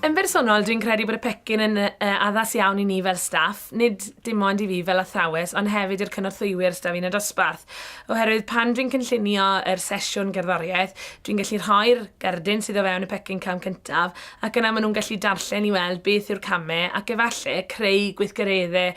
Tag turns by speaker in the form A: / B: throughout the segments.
A: Yn bersonol, dwi'n credu bod y pecyn yn addas iawn i ni fel staff, nid dim ond i fi fel athrawes, ond hefyd i'r cynorthwywyr staff yn y dosbarth. Oherwydd pan dwi'n cynllunio yr sesiwn gerddoriaeth, dwi'n gallu rhoi'r gerdyn sydd o fewn y pecyn cam cyntaf, ac yna maen nhw'n gallu darllen i weld beth yw'r camau ac efallai creu gweithgareddau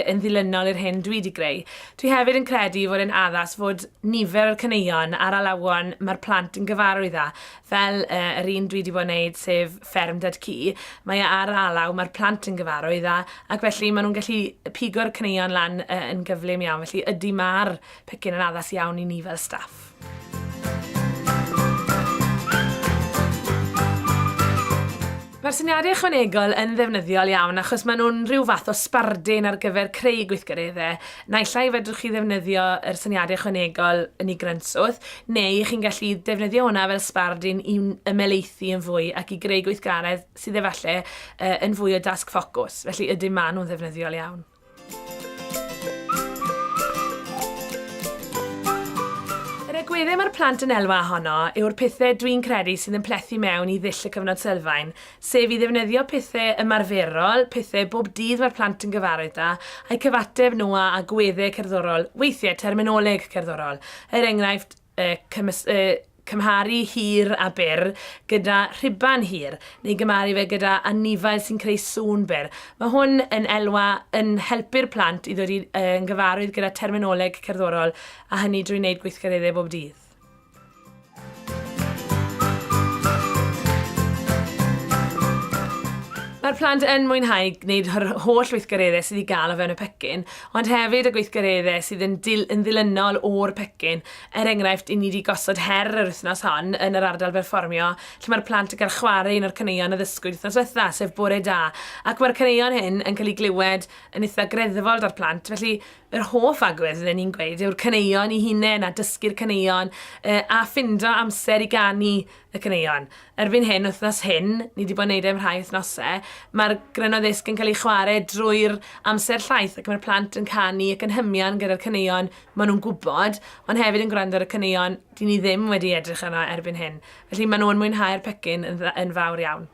A: yn ddilynol i'r hyn dwi wedi greu. Dwi hefyd yn credu fod e'n addas fod nifer yr caneuon a'r alawon mae'r plant yn gyfarwydd â fel yr un dwi 'di bod yn neud sef Fferm Dad Cu, mae e ar alaw, mae'r plant yn gyfarwydd â, ac felly maen nhw'n gallu pigo'r caneuon lan yn gyflym iawn, felly ydy mae'r pecyn yn addas iawn i ni fel staff. Mae'r syniadau ychwanegol yn ddefnyddiol iawn achos maen nhw'n rhyw fath o sbardun ar gyfer creu gweithgareddau. Naill ai fedrwch chi ddefnyddio yr syniadau ychwanegol yn ei grynswth, Neu chi'n gallu defnyddio hwnna fel sbardun i ymelaethu yn fwy ac i greu gweithgaredd sydd efallai uh, yn fwy o dasg ffocws, felly ydym maen nhw'n ddefnyddiol iawn. Yr egwyddau mae'r plant yn elwa ohono yw'r pethau dwi'n credu sydd yn plethu mewn i ddull y cyfnod sylfaen, sef i ddefnyddio pethe ymarferol, pethe bob dydd mae'r plant yn gyfarwydd da, a'u cyfateb nhw â agwedde cerddorol, weithiau terminoleg cerddorol, er enghraifft, y, cymys, y, cymharu hir a byr gyda rhuban hir, neu gymharu fe gyda anifail sy'n creu sŵn byr. Mae hwn yn elwa yn helpu'r plant i ddod i'n gyfarwydd gyda terminoleg cerddorol, a hynny drwy wneud gweithgareddau bob dydd. Mae'r plant yn mwynhau gwneud yr holl weithgareddau sydd i gael o fewn y pecyn, ond hefyd y gweithgareddau sydd yn, dil, yn ddilynol o'r pecyn. Er enghraifft, i ni wedi gosod her yr wythnos hon yn yr ardal berfformio, lle mae'r plant yn cael chwarae un o'r caneuon a ddysgwyd wythnos diwetha, sef Bore Da, ac mae'r caneuon hyn yn cael eu glywed yn eitha greddfol da'r plant, felly Yr hoff agwedd fydden i'n gweud yw'r caneuon i hunain a dysgu'r caneuon a ffindo amser i ganu y caneuon. Erbyn hyn, wythnos hyn, ni wedi bod yn neud e am rhai wythnosau, mae'r Grynno Ddisg yn cael ei chwarae drwy'r amser llaeth ac mae'r plant yn canu ac yn hymian gyda'r caneuon maen nhw'n gwybod, ond hefyd yn gwrando ar y caneuon dyn ni ddim wedi edrych arno erbyn hyn. Felly maen nhw yn mwynhau'r pecyn yn fawr iawn.